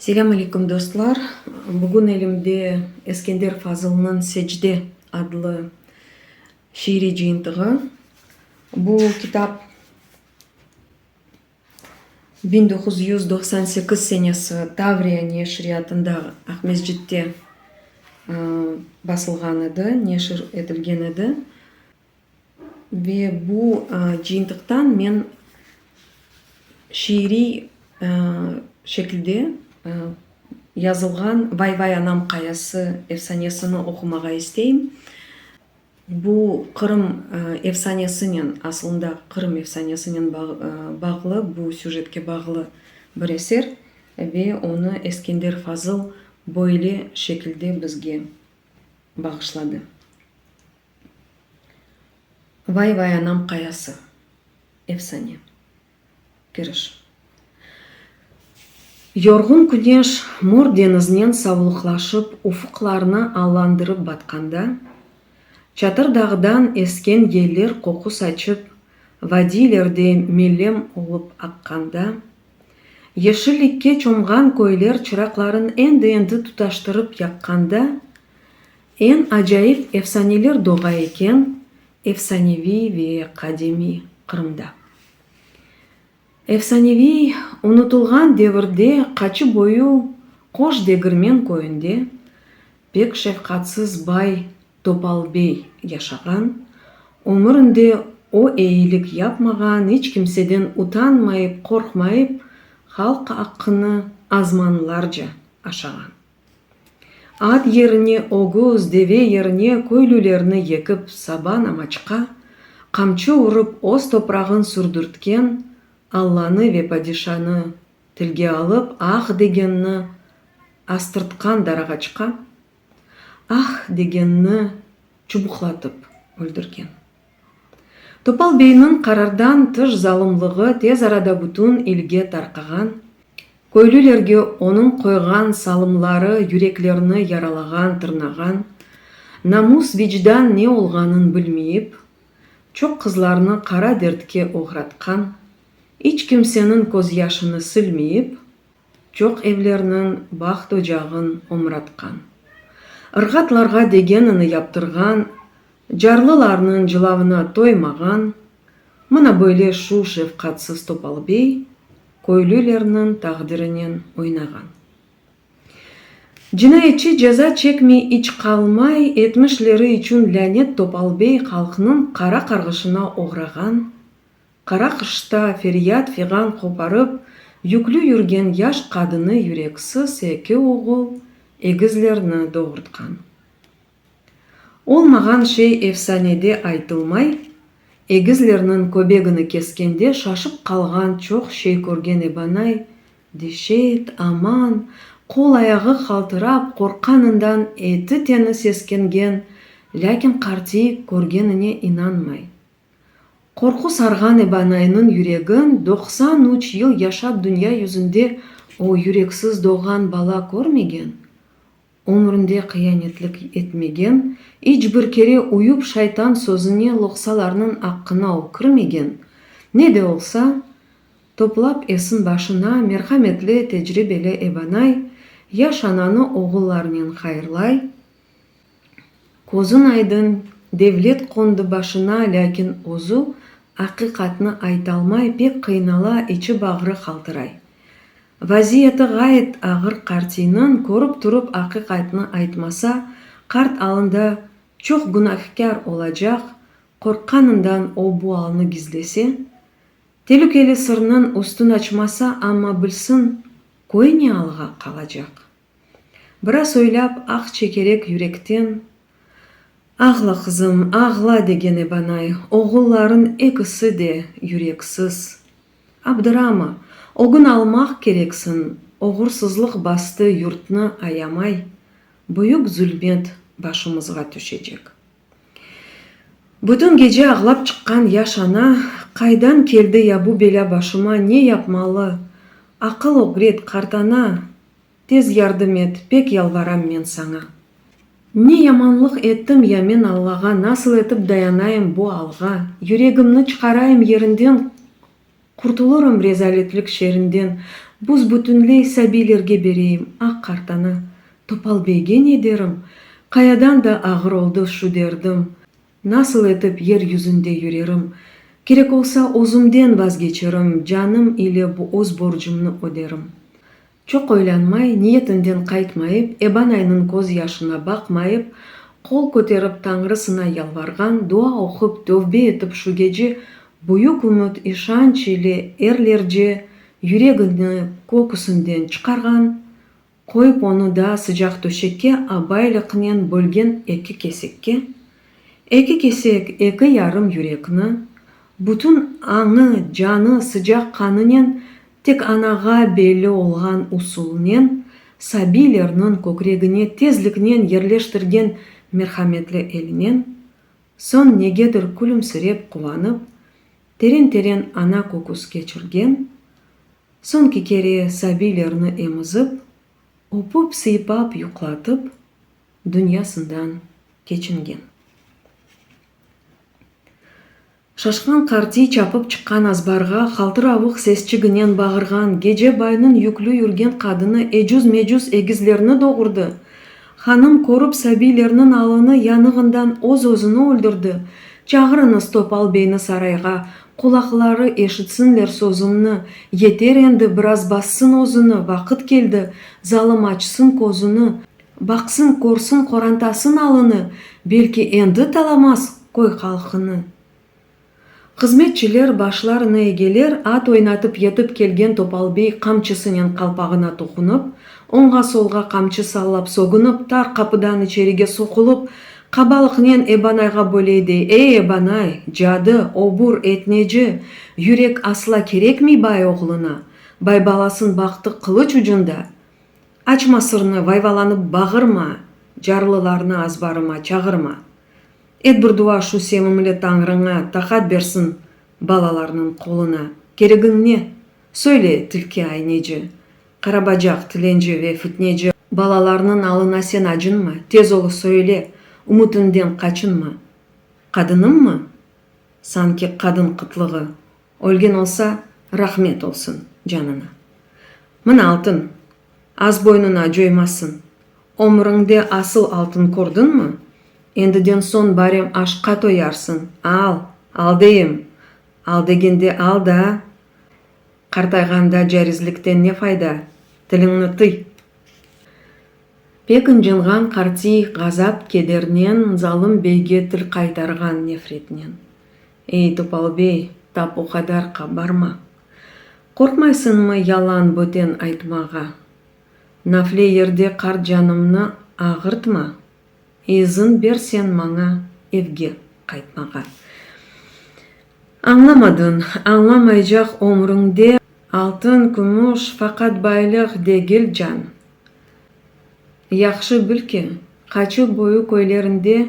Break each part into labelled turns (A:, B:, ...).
A: Selâm alâykum dostlar. Bugün elimde Eskender Fazılnıñ Secde adlı şiiriy cıyıntığı. Bu kitap. Biñ doquz yüz doqsan sekiz senesi Tavriya neşriyatında Aqmescitte basılğan edi, neşir etilgen edi. Ve bu cıyıntıqtan men şiiriy şekilde yazılğan Vay-vay anam qayası efsanesini oqumağa isteyim. Bu Qırım efsanesinen, asılında Qırım efsanesinen bağlı, bu süjetke bağlı bir eser ve onı Eskender Fazıl böyle şekilde bizge bağışladı. Vay-vay anam qayası, efsane. Kiriş. Yorğun küneş mor deñiznen savulıqlaşıp ufuqlarnı allandırıp batqanda, Çatır dağdan esken yeller qoqu saçıp, vadiylerde melem olıp aqqanda, yeşillikke çomğan köyler çıraqların endi-endi tutaştırıp yaqqanda, Eñ acayip efsaneler doğa eken efsaneviy ve qadimiy Qırımda. Efsaneviy, unutılğan devirde qaçı boyu Qoş Degirmen köyünde pek şefqatsız bay Topal bey yaşağan, ömüründe o eyilik yapmağan, iç kimseden utanmayıp, qorqmayıp, halq aqqını azmanlarca aşağan. At yerine ögüz, deve yerine köylülerni yekip saba namaçqa, qamçı urıp öz toprağın sürdürtken Allanı ve padişanı tilge alıp ah degenni astırtqan darağaçqa ah degenni çubuqlatıp öldürgen. Topal beyniñ qarardan tış zalımlığı tez arada bütün ilge tarqağan, köylülerge onıñ qoyğan salımları yüreklerini yaralağan, tırnağan, namus, vicdan ne olğanın bilmeyip, çoq qızlarnı qara dertke oğratqan, iç kimseniñ közyaşını silmeyip, Çoq evlerniñ baht-ocağın omratqan. Irğatlarğa degenini yaptırğan, Carlılarnıñ cılavına toymağan, Mına böyle şu şefqatsız topal bey Köylülerniñ taqdirinen oynağan. Cinayetçi ceza çekmey iç qalmay, Etmişleri içün lânet topal bey Halqnıñ qara qarğışına oğrağan, Qara qışta feryat-fiğan qoparıp, yüklü yürgen yaş qadını yüreksiz eki oğul, egizlerni doğurtqan. Olmağan şey efsanede aytılmay, egizlerniñ köbegini keskende şaşıp qalğan çoq şey körgen Ebanay, deşet, aman, qol-ayağı qaltırap, qorqqanından eti-teni seskengen, lâkin qartiy körgenine inanmay. Qorqu sarğan Ebanaynıñ yüregin, doqsan üç yıl yaşap dünya yüzünde o yüreksiz doğğan bala körmegen, ömründe qıyanetlik etmegen, iç bir kere uyup şeytan sözüne loqsalarnıñ aqqına o kirmegen, ne de olsa, toplap esin başına, merhametli, tecribeli Ebanay, yaş ananı oğullarınen hayırlay, Közün aydın, devlet qondı başına, lâkin özü aqiqatnı aytalmay, pek qıynala, içi-bağrı qaltıray. Vaziyeti ğayet ağır qartiyniñ, körip turıp aqiqatnı aytmasa, qart alında çoq günâhkâr olacaq, qorqqanından o bu alnı gizlese, telükeli sırnıñ üstün açmasa, amma bilsin, köy ne alğa qalacaq? Biraz oylap, aq çekerek yürekten, Ağla, qızım, ağla, degen Ebanay, oğulların ekisi de yüreksiz. Abdırama, ögün almaq kereksiñ, oğursızlıq bastı yurtnı ayamay, büyük zulmet başımızğa tüşecek. Bütün gece ağlap çıqqan yaş ana, Qaydan keldi ya bu belâ başıma, ne yapmalı? Aqıl ögret, qartana! Tez yardım et, pek yalvaram men saña! Ne yamanlıq ettim ya men Allağa, Nasıl etip dayanayım bu alğa? Yüregimni çıqarayım yerinden, Qurtulurum rezaletlik şerinden, Buz-bütünley sabiylerge bereyim aq qartanı. Topal beyge ne derim? Qayadan da ağır oldı şu derdim. Nasıl etip yer yüzünde yürerim? Kerek olsa, özümden vazgeçerim, Canım ile bu öz borcumnı öderim. Çoq oylanmay, niyetinden qaytmayıp, Ebanaynıñ köz yaşına baqmayıp, qol köterip Tañrısına yalvarğan, dua oqup, tövbe etip şu gece büyük ümüt, işanç ile erlerce yüregini köküsinden çıqarğan, qoyıp onı da sıcaq töşekke abaylıqnen bölgen eki kesekke, Eki kesek, eki yarım yürekni, bütün añı, canı, sıcaq qanınen, tek anağa belli olğan usulnen, Sabilerniñ kökregine tezliknen yerleştirgen merhametli elinen, soñ negedir külümsirep quvanıp, teren-teren ana köküs keçirgen, soñki kere Sabilerni emizip, öpüp-sıypap yuqlatıp, dünyasından keçingen. Şaşqan qartiy çapıp çıqqan azbarğa haltıravıq sesçiginen bağırğan gece baynıñ yüklü yürgen qadını ecüz-mecüz egizlerni doğurdı, hanım körüp sabiylerniñ alını yanığından öz-özüni öldürdi, çağırıñız Topal beyni sarayğa, qulaqları eşitsinler sözümni, yeter endi, biraz bassın özüni, vaqıt keldi, zalım açsın közüni, Baqsın, körsin qorantasın alını, belki endi talamaz köy halqını. Hızmetçiler başlarını egeler, at oynatıp yetip kelgen Topalbey qamçısınen qalpağına toqunıp, oñğa-solğa qamçı sallap sogunıp, tar qapıdan içerige soqulıp, qabalıqnen Ebanayğa böyle dey, Ey, Ebanay, cadı, obur, etneci, yürek asla kerekmey bay oğluna, bay balasın baxtı qılıç ucunda. Açma sırnı, vayvalanıp bağırma, Carlılarnı azbarıma çağırma. Et bir dua şu sevimli Tañrıña, Taqat bersin balalarnıñ qoluna. Keregiñ ne? Söyle, tilki ayneci, Qarabacaq, tilenci ve fitneci. Balalarnıñ alına sen acınma, Tez ol söyle, ümütiñden qaçınma. Qadınımmı? Sanki qadın qıtlığı, Ölgen olsa, rahmet olsun canına. Mına altın, az boynuna coymasın. Ömrüñde asıl altın kördiñmi? Endiden soñ barem aşqqa toyarsıñ, al, al deyim! Al degende al da! Qartayğanda carizlikten ne fayda? Tiliñni tıy! Pek ıncınğan qartiy, ğazap-kedernen, zalım beyge til qaytarğan nefretnen. Ey, Topal bey, tap o qadar qabarma! Qorqmaysıñmı yalan, böten aytmağa? Nafle yerde qart canımnı ağırtma, izin ber sen maña evge qaytmağa. Añlamadıñ, añlamaycaq ömrüñde. Altın, kümüş, faqat baylıq degil, can! Yahşı bil ki, Qaçu boyu köylerinde.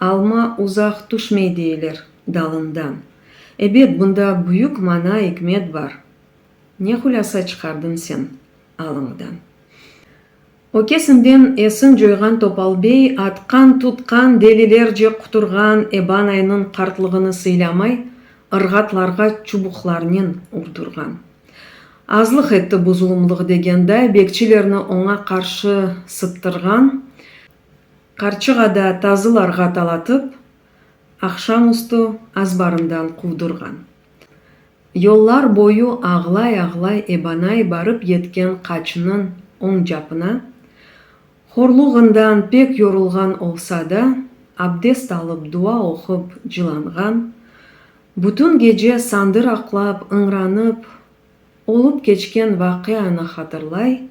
A: Alma uzaq tüşmey deyler dalından. Ebet, bunda büyük mana, ikmet bar. Ne hulâsa çıqardın sen alıñdan? Ökesinden esin coyğan Topal bey atqan-tutqan delilerce quturğan Eban aynıñ qartlığını sıylamay, ırğatlarğa çubuqlarnen urturğan. Azlıq etti bu zulumlıq degenday, bekçilerni oña qarşı sıttırğan, Qarçığada tazılarğa talatıp, aqşam üstü azbarından quvdurğan. Yollar boyu ağlay-ağlay ebanay barıp yetken qaçınıñ oñ capına, horluğından pek yorulğan olsa da, abdest alıp dua oqup cılanğan, bütün gece sandır aqlap, ıñranıp, olıp keçken vaqianı hatırlay,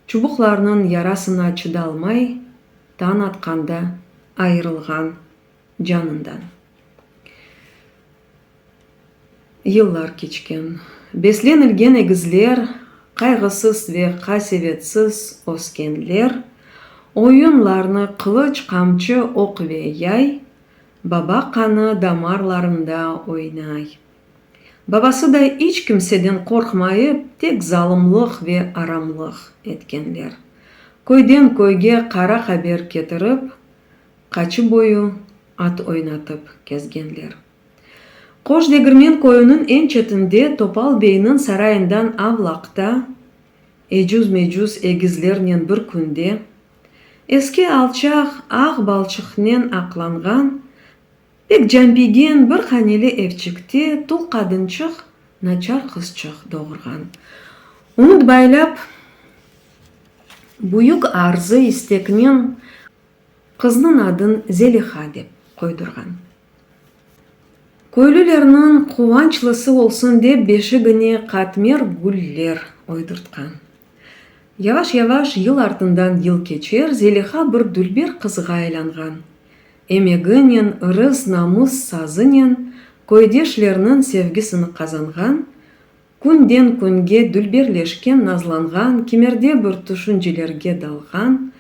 A: Çubuqlarnıñ yarasına çıdalmay, tañ atqanda ayırılğan canından. Yıllar keçken. Beslenilgen egizler, qayğısız ve qasevetsiz öskenler, oyunlarnı qılıç, qamçı, oq ve yay, baba qanı damarlarında oynay. Babası da iç kimseden qorqmayıp, tek zalımlıq ve aramlıq etkenler. Köyden köyge qara haber ketirip, qaçı boyu at oynatıp kezgenler. Qoş Degirmen köyüniñ eñ çetinde Topal beyniñ sarayından avlaqta, ecüz-mecüz egizlernen bir künde, eski alçaq ağ balçıqnen aqlanğan, Pek canpiygen bir haneli evçikte tul qadınçıq naçar qızçıq doğurğan. Unutbaylap, büyük arzı isteknen qıznıñ adın Zeliha dep qoydurğan. Köylülerniñ quvançlısı olsun dep beşigine qatmer güller oydurtqan. Yavaş-yavaş yıl artından yıl keçer, Zeliha bir dülber qızğa aylanğan. Emeginen, ırız, namıs, sazınen köydeşlerniñ sevgisini qazanğan, künden-künge dülberleşken, nazlanğan, kimerde bir tüşüncelerge dalğan,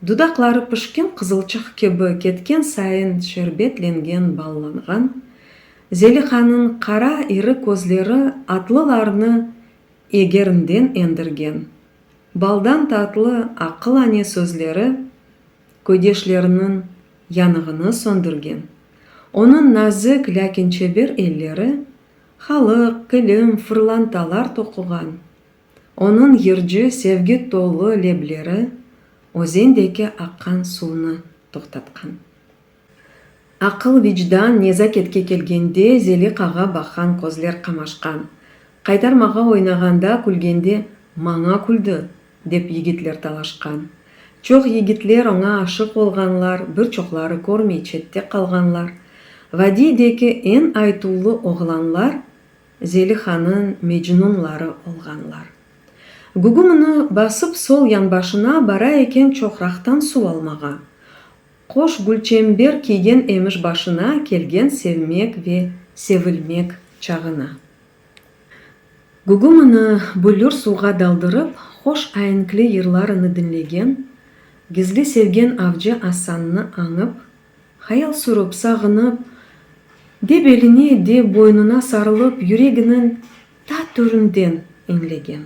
A: dudaqları pişken qızılçıq kibi ketken sayın şerbetlengen, ballanğan Zelihanıñ qara iri közleri atlılarnı Egerimden endirgen, baldan tatlı aqıl-ane sözleri köydeşleriniñ yanığını söndürgen. Onıñ nazik, lâkin çeber elleri halıq, kilim, fırlantalar toquğan. Onıñ yırcı, sevgi tolu lebleri özendeki aqqan suvnı toqtatqan. Aqıl, vicdan, nezaketke kelgende, Zelikağa baqan közler qamaşqan. Qaytarmağa oynağanda, külgende, Maña küldi! dep yigitler dalaşqan. Çoq yigitler oña aşıq olğanlar, bir çoqları körmey çette qalğanlar. Vadiydeki eñ aytuvlı oğlanlar Zelihanıñ Mecnunları olğanlar. Gugumını basıp sol yanbaşına bara eken çoqraqtan suv almağa. Qoş gülçember kiygen emiş başına kelgen sevmek ve sevilmek çağına. Gugumını bülür suvğa daldırıp hoş aenkli yırlarını diñlegen, gizli sevgen avcı Asannı añıp, hayal sürüp, sağınıp, de beline, de boynuna sarılıp yüreginiñ ta töründen eñlegen.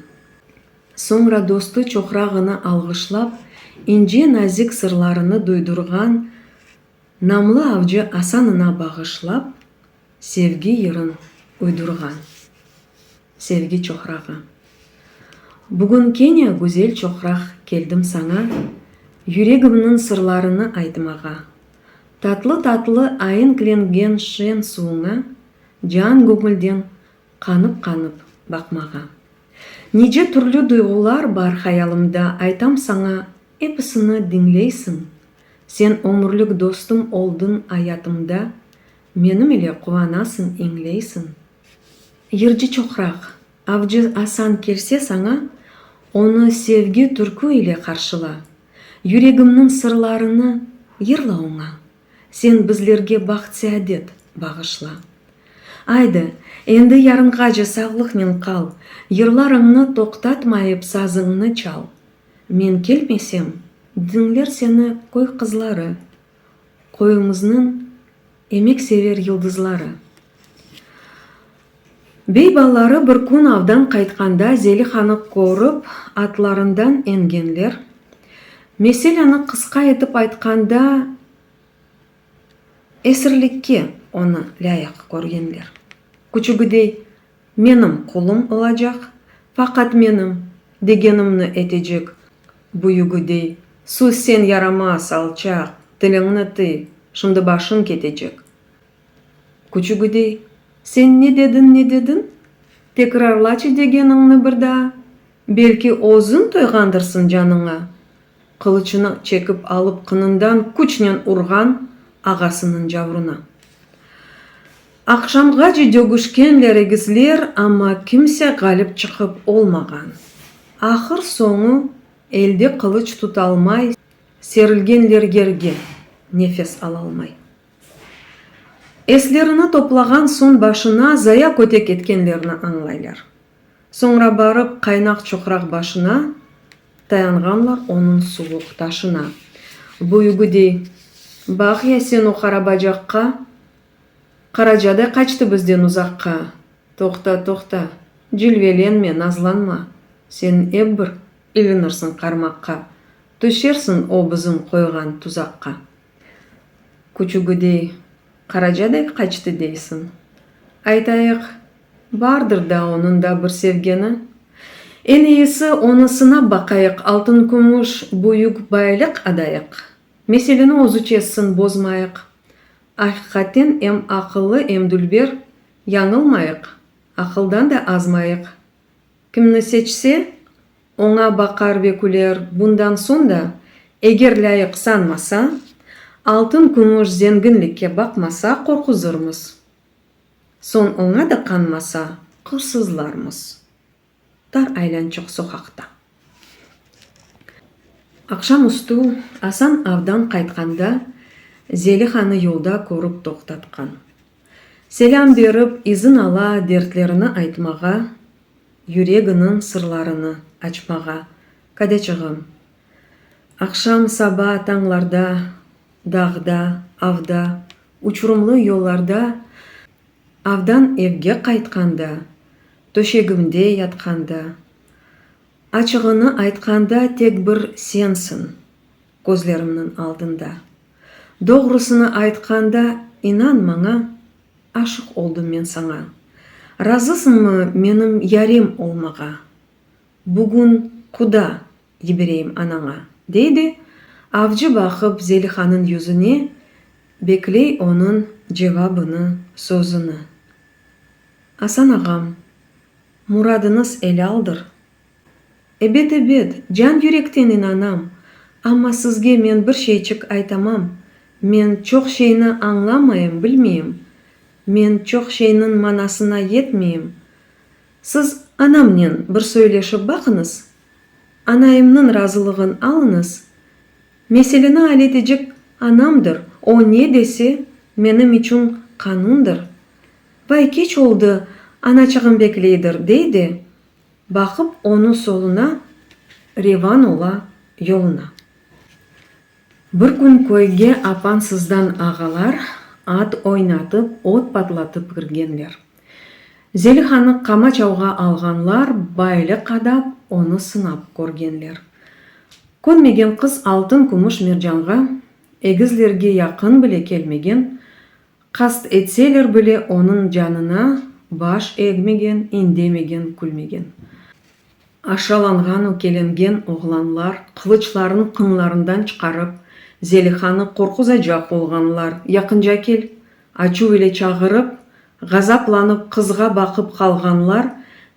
A: Soñra dostu çoqrağını alğışlap, ince nazik sırlarını duydurğan Namlı avcı Asanına bağışlap, sevgi yırın uydurğan. Sevgi çoqrağı. Bugün kene, güzel çoqraq, keldim saña, Yüregimniñ sırlarını aytmağa. Tatlı-tatlı aenklengen şen suvuña Can-göñülden Qanıp-qanıp baqmağa. Nice türlü duyğular bar hayalımda, aytam saña, episini diñleysiñ. Sen ömürlik dostum oldıñ ayatımda, menim ile quvanasıñ, eñleysiñ. Yırcı çoqraq, avcı asan kelse saña, onı sevgi türkü ile qarşıla, yüregimniñ sırlarını yırla oña. Sen bizlerge baht-seadet bağışla. Aydı, endi yarınğace sağlıqnen qal, yırlarıñnı toqtatmayıp sazıñnı çal. Men kelmesem, diñler seni köy qızları, köyümiznıñ emeksever yıldızları. Bey balaları bir kün avdan qaytqanda Zelihanı körip, atlarından engenler. Meseleni qısqa etip aytqanda, esirlikke onı lâyıq körgenler. Küçügidey, menim qulum olacaq, faqat menim degenimni etecek, büyügidey, sus sen yaramaz, alçaq, tiliñni tı, şimdi başıñ ketecek, Küçügüdey, Sen ne dediñ, ne dediñ? Tekrarlaçı degeniñni bir daa. Belki, özüñ toyğandırsıñ canıña? Qılıçını çekip alıp qınından küçnen urğan ağasınıñ cavruna. Aqşamğace dögüşkenler egisler, amma kimse ğalip çıqıp olmağan. Ahır soñu, elde qılıç tutalmay serilgenler yerge, nefes alalmay. Eslerini toplağan soñ başına zaya kötek etkenlerini añlaylar. Soñra barıp qaynaq çoqraq başına tayanğanlar onıñ suvuq taşına. Büyügi dey, Baq ya sen o qara bacaqqa! Qaracaday qaçtı bizden uzaqqa! Toqta, toqta, cilvelenme, nazlanma, sen ep bir ilinirsiñ qarmaqqa, tüşersiñ o bizim qoyğan tuzaqqa. Küçügüdey, qaraca dek qaçtı deysiñ? Aytayıq, bardır da onıñ da bir sevgeni? Eñ iyisi, onı sınap baqayıq, altın-kümüş, büyük bayliq adayıq. Meseleni özü çezsin, bozmayıq. Aqiqaten em aqıllı, em dülber, yañılmayıq, aqıldan da azmayıq. Kimni seçse, oña baqar ve küler, bundan soñ da, eger lâyıq sanmasa, altın-kümüş zenginlikke baqmasa, qorquzırmız. Soñ oña da qanmasa, qırsızlarmız. Tar aylançıq soqaqta. Aqşam üstü Asan avdan qaytqanda, Zelixanı yolda körip toqtatqan. Selâm berip izin ala dertlerini aytmağa, yüreginiñ sırlarını açmağa, kadeçığım. Aqşam, saba, tañlarda, dağda, avda, uçurumlı yollarda, avdan evge qaytqanda, töşegimde yatqanda, açığını aytqanda tek bir sensiñ. Közlerimniñ aldında. Doğrusını aytqanda, inan maña, aşıq oldım men saña. Razısıñmı menim yarim olmağa? Bugün quda yibereyim anaña, dey de, avcı baqıp Zelihanıñ yüzüne, bekley onıñ cevabını, sözüni. Asan ağam, muradınız elaldır, Ebet, ebet, can-yürekten inanam, amma sizge men bir şeyçik aytamam, men çoq şeyni añlamayım, bilmeyim, men çoq şeyniñ manasına yetmeyim. Siz. Anamnen bir söyleşip baqıñız, anayımnıñ razılığın alıñız, meseleni aletecek anamdır, o ne dese, menim içün qanundır. Vay, keç oldı, anaçığım bekleydir, dey de, Baqıp onı soluna, revan ola yoluna. Bir kün köyge apansızdan ağalar at oynatıp, ot patlatıp kirgenler. Zelihanı qamaçavğa alğanlar, bayle qadap, onı sınap körgenler. Könmegen qız altın-kümüş mercanğa, egizlerge yaqın bile kelmegen, Qast etseler bile, onıñ canına baş egmegen, indemegen, külmegen. Aşalanğan, ökelengen oğlanlar qılıçlarını qınlarından çıqarıp, Zelihanı qorquzacaq olğanlar, yaqınca kel! açuv ile çağırıp, ğazaplanıp qızğa baqıp qalğanlar,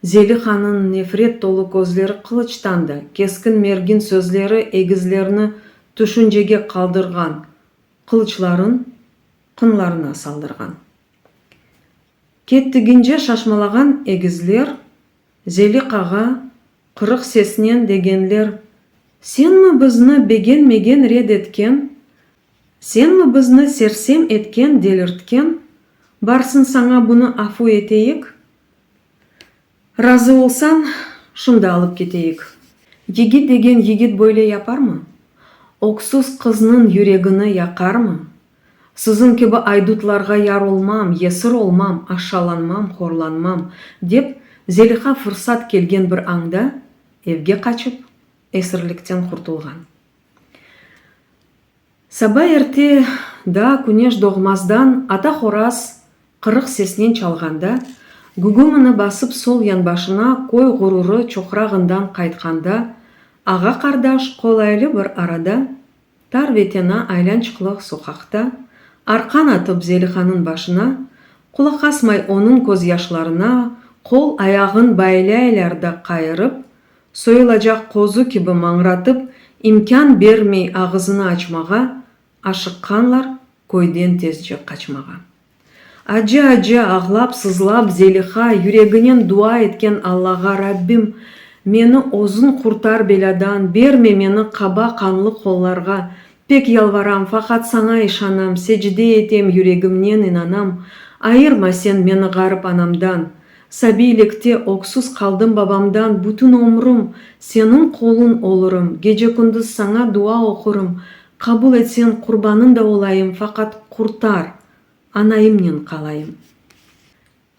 A: Zelihanıñ nefret tolu közleri qılıçtan da, keskin-mergin sözleri egizlerni tüşüncege qaldırğan, qılıçların qınlarına saldırğan. Kettigince şaşmalağan egizler, Zelik ağa, qırıq sesnen degenler, Senmi bizni begenmegen red etken, senmi bizni sersem etken-delirtken, barsın saña bunı afu eteyik? Razı olsañ, şunda alıp keteyik. Yigit degen yigit böyle yaparmı? Öksüz qıznıñ yüregini yaqarmı? Siziñ kibi aydutlarğa yar olmam, yesir olmam, aşşalanmam, horlanmam, dep, Zeliha fırsat kelgen bir añda evge qaçıp, esirlikten qurtulğan. Saba erte, daa küneş doğmazdan ata horaz qırıq sesnen çalğanda, gugumını basıp sol yanbaşına köy ğururı çoqrağından qaytqanda, ağa-qardaş qolaylı bir arada, tar ve tena aylançıqlıq soqaqta, arqan atıp Zelihanıñ başına, qulaq asmay onıñ közyaşlarına, qol-ayağıñ baylâylar da qayırıp, Soyulacaq qozu kibi mañratıp, imkân bermey ağızını açmağa, aşıqqanlar köyden tezce qaçmağa. Acı-acı ağlap-sızlap Zeliha yüreginen dua etken Allağa Rabbim, meni özüñ qurtar belâdan, berme meni qaba qanlı qollarğa, pek yalvaram, faqat saña işanam, secde etem, yüregimnen inanam, ayırma sen meni ğarip anamdan, Sabiylikte öksüz qaldım babamdan bütün ömrüm Seniñ qolun olurım gece-kündüz saña dua oqurım Qabul etsen qurbanın da olayım faqat qurtar Anaimnen qalayım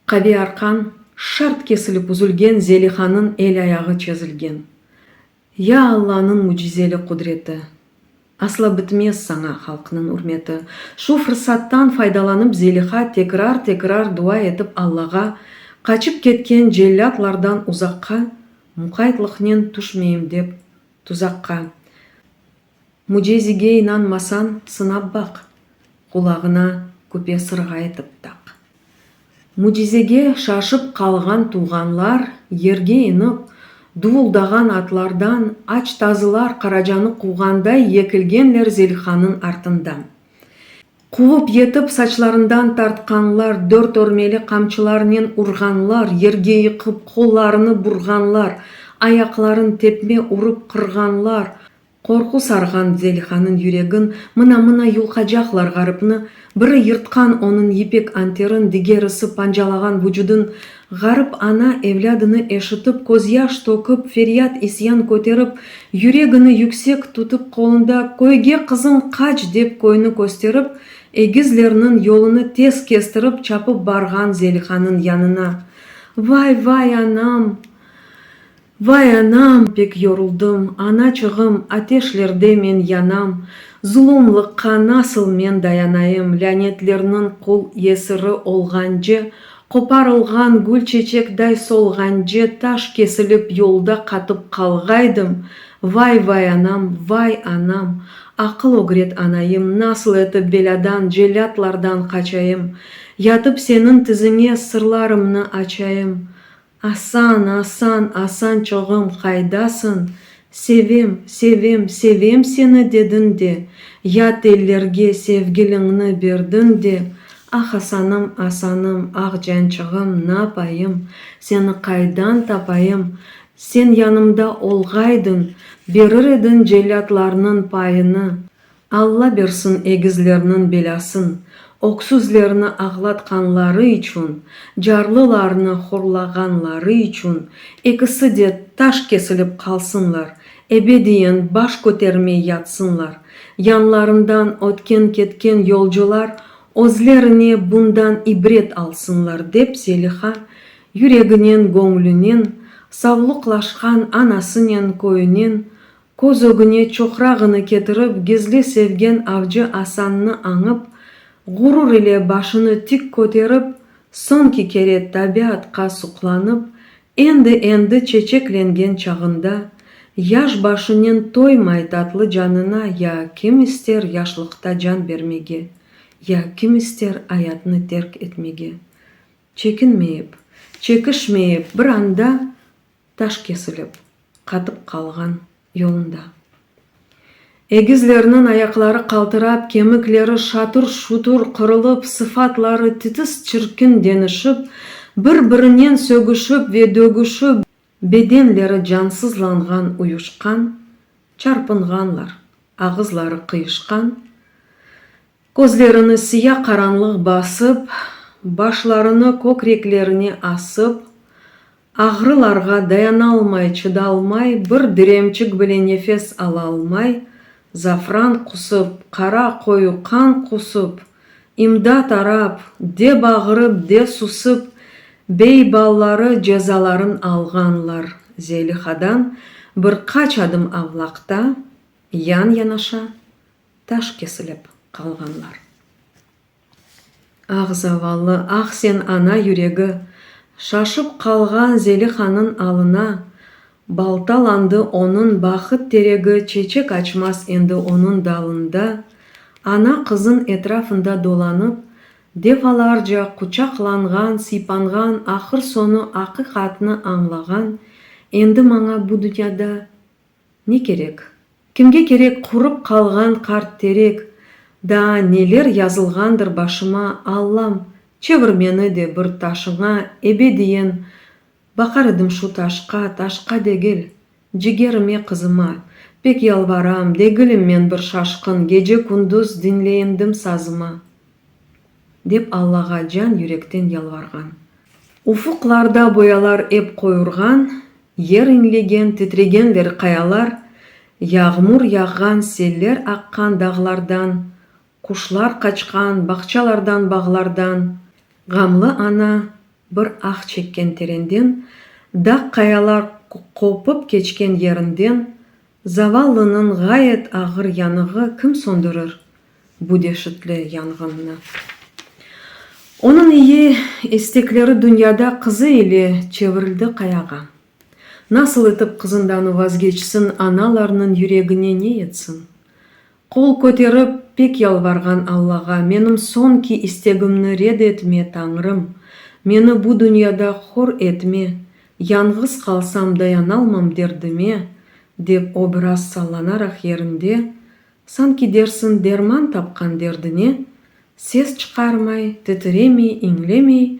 A: Qavi arqan şart kesilip üzülgen Zelihanıñ el-ayağı çezilgen Ya Allanıñ mücizeli qudreti! Asla bitmez saña halqnıñ ürmeti! Şu fırsattan faydalanıp Zeliha tekrar-tekrar dua etip Allağa, qaçıp ketken cellâtlardan uzaqqa, muqaytlıqnen tüşmeyim dep tuzaqqa, Mücezige inanmasañ, sınap baq, Qulağına küpe sırğa etip taq. Mücizege şaşıp qalğan tuvğanlar yerge inip, duvuldağan atlardan aç tazılar qaracanı quvğanday yekilgenler Zelixannıñ artından. Quvıp yetip, saçlarından tartqanlar, dört örmeli qamçılarnen urğanlar, yerge yıqıp, qollarını burğanlar, ayaqların tepme urıp qırğanlar, Qorqu sarğan Zelihaniñ yüregin, mına-mına yulqacaqlar ğarıpnı, biri yırtqan onıñ yipek anterin, digerisi pancalağan vucudın, ğarıp ana evlâdını eşitip, közyaş tökip, feryat-isyan köterip, yüregini yüksek tutıp qolunda, Köyge, qızım, qaç! dep köyni kösterip, egizlerniñ yolunı tez kestirip, çapıp barğan Zelihanıñ yanına, Vay, vay, anam! Vay anam, pek yoruldım, anaçığım, ateşlerde men yanam, zulumlıqqa nasıl men dayanayım, lânetlerniñ qul yesiri olğance, qoparılğan gül çeçekday solğance taş kesilip yolda qatıp qalğaydım, vay, vay anam, vay anam, aqıl ögret anayım, nasıl etip belâdan, cellâtlardan qaçayım, yatıp seniñ tiziñe sırlarımnı açayım, Asan, Asan, Asan çoğım, qaydasıñ? Sevem, sevem, sevem seni dediñ de, Yat ellerge sevgiliñni berdiñ de, Ah, Asanım, Asanım, ah, cançığım, N'apayım, seni qaydan tapayım? Sen yanımda olğaydıñ, Berir ediñ cellâtlarnıñ payını, Alla bersin egizlerniñ belâsın, öksüzlerni ağlatqanları içün, carlılarnı horlağanları içün ekisi de taş kesilip qalsınlar, ebediyen baş kötermey yatsınlar, yanlarından ötken-ketken yolcular özlerine bundan ibret alsınlar, dep Zeliha yüreginen-göñlünen savluqlaşqan anasınen köyünen Köz ögüne çoqrağını ketirip gizli sevgen avcı Asannı añıp, ğurur ile başını tik köterip, soñki kere tabiatqa suqlanıp, endi-endi çeçeklengen çağında, yaş başınen toymay tatlı canına ya kim ister yaşlıqta can bermege, ya kim ister ayatnı terk etmege. Çekinmeyip, çekişmeyip bir anda Taş kesilip, qatıp qalğan yolunda. Egizlerniñ ayaqları qaltırap, kemikleri şatur-şutur qırılıp, sıfatları titis çirkin deñişip, bir-birinen sögüşip ve dögüşip, bedenleri cansızlanğan uyuşqan, çarpınğanlar, ağızları qıyışqan, Közlerini siya qaranlıq basıp, başlarını kökreklerine asıp, ağrılarğa dayanalmay, çıdalmay, bir diremçik bile nefes alalmay, zafran qusıp, qara qoyu qan qusıp, imdat arap, de bağırıp, de susıp, bey balları cezaların alğanlar, Zelihadan bir qaç adım avlaqta, yan-yanaşa, taş kesilip qalğanlar. Ah, zavallı, ah sen ana yüregi! Şaşıp qalğan Zelihannıñ alına baltalandı onıñ bahıt teregi çeçek açmaz endi onıñ dalında, ana qızıñ etrafında dolanıp, defalarca quçaqlanğan, sıypanğan, ahır soñu aqiqatnı añlağan, endi maña bu dünyada, Ne kerek? Kimge kerek qurıp qalğan qart terek? Daa neler yazılğandır başıma, Allam, çevir meni de bir taşıña, ebediyen Baqar edim şu taşqa, taşqa degil, cigerime, qızıma. Pek yalvaram, degilim men bir şaşqın, Gece-kündüz diñleyindim sazıma. Dep Allağa can yürekten yalvarğan. Ufuqlarda boyalar ep qoyurğan, Yer inlegen, titregenler qayalar, Yağmur yağğan, seller aqqan dağlardan, Quşlar qaçqan, bağçalardan, bağlardan. Ğamlı ana bir ah çekken terenden, Dağ-qayalar qopıp keçken yerinden, Zavallınıñ ğayet ağır yanığı kim söndürür bu deşitli yanğınnı? Onıñ iyi istekleri dünyada qızı ile çevirildi qayağa. Nasıl etip qızından vazgeçsin, analarnıñ yüregine ne yetsin? Qol köterip, pek yalvarğan Allağa, Menim soñki istegimni red etme, Tañrım! Meni bu dünyada hor etme! Yañğız qalsam, dayanalmam derdime, dep o biraz sallanaraq yerinde, sanki dersiñ derman tapqan derdine, ses çıqarmay, titiremey, iñlemey,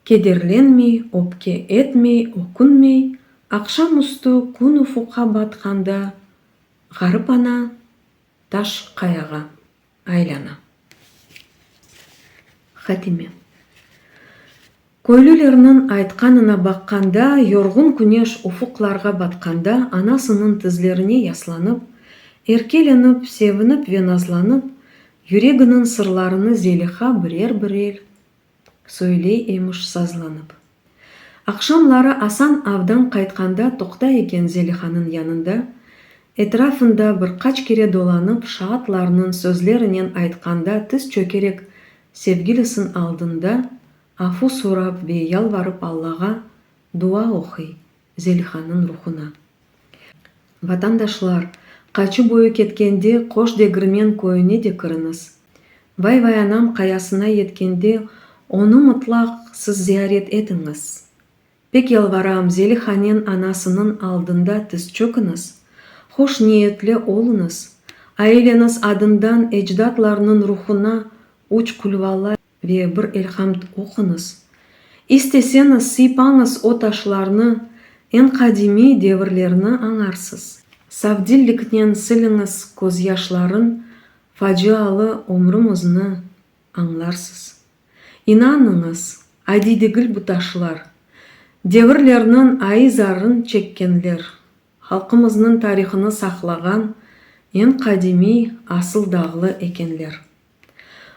A: kederlenmey, öpke etmey, ökünmey, aqşam üstü, kün ufuqqa batqanda, Ğarip ana taş qayağa aylâna. Hatime. Köylülerniñ aytqanına baqqanda, yorğun küneş ufuqlarğa batqanda anasınıñ tizlerine yaslanıp, erkelenip, sevinip ve nazlanıp, yüreginiñ sırlarını Zeliha birer-birel, Söyley emiş sazlanıp. Aqşamları Asan avdan qaytqanda toqtay eken Zelihanıñ yanında, etrafında bir qaç kere dolanıp, şaatlarnıñ sözlerinen aytqanda tiz çökerek sevgilisın aldında afu sorap ve yalvarıp Allağa dua oquy, Zelihannıñ ruhuna. Vatandaşlar, qaçu boyu ketkende Qoş Degirmen köyüne de kiriñiz. Vay-Vay Anam qayasına yetkende onı mıtlaq siz ziyaret etiñiz. Pek yalvaram, Zelihanen anasınıñ aldında tiz çökiñiz, hoş niyetli oluñız, aileniz adından ecdatlarnıñ ruhuna üç Kulvala, Ve bir elhamd oquñız. İsteseñiz, sıypañız o taşlarnı, eñ qadimiy devirlerni añarsız. Savdilliknen siliñiz közyaşların, facialı ömrüñizni añlarsız. İnanıñız, adiy degil bu taşlar. Devirlerniñ ayı zarın çekkenler, halqımıznıñ tarihını saqlağan eñ qadimiy asıl dağlı ekenler.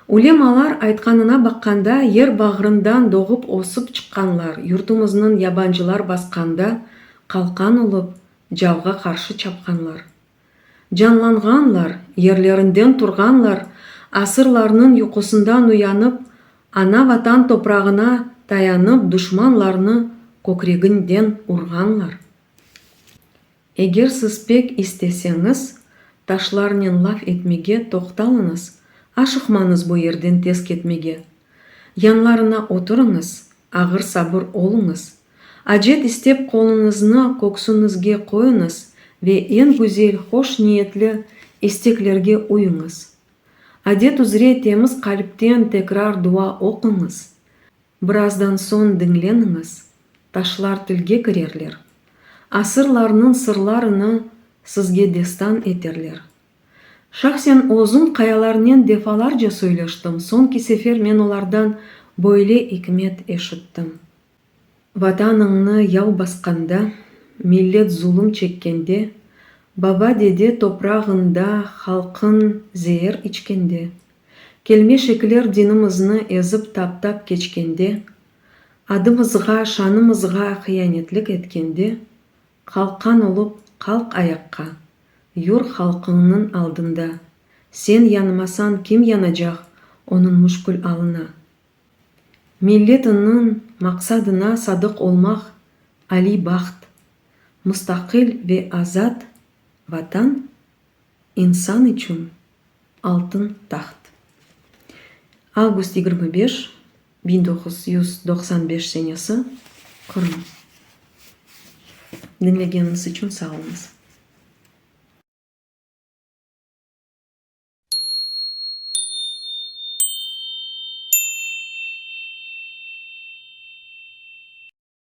A: Ulemalar aytqanına baqqanda, yer bağrından doğıp ösip çıqqanlar, yurtumıznıñ yabancılar basqanda qalqan olıp, cavğa qarşı çapqanlar. Canlanğanlar, yerlerinden turğanlar, asırlarnıñ yuqusından uyanıp, ana Vatan toprağına tayanıp duşmanlarnı kökreginden urğanlar. Eger siz pek isteseñiz, taşlarnen laf etmege toqtalıñız, aşıqmañız bu yerden tez ketmege. Yanlarına oturıñız, ağır sabır oluñız. Acet istep qoluñıznı köksüñizge qoyuñız ve eñ güzel, hoş niyetli isteklerge uyuñız. Adet üzre temiz qalpten tekrar dua oquñız. Birazdan soñ diñleniñiz, taşlar tilge kirerler, asırlarnıñ sırlarını sizge destan eterler. Şahsen özüm qayalarnen defalarca söyleştim, soñki sefer men olardan böyle ikmet eşittim, Vatanıñnı yav basqanda, millet zulum çekkende, baba-dede toprağında halqıñ zeer içkende, Kelmeşekler dinimizni ezip taptap keçkende, adımızğa, şanımızğa hıyanetlik etkende, qalqqan olıp, qalq ayaqqa, yur halqıñnıñ aldında, sen yanmasañ kim yanacaq onıñ müşkül alına? Milletiñniñ maqsadına sadıq olmaq aliy baht, mustaqil ve azat Vatan? İnsan içün altın taht. Avgust yigirmi beş, biñ doquz yüz doqsan beş senesi, Qırım. Diñlegeniñiz içün sağ oluñız.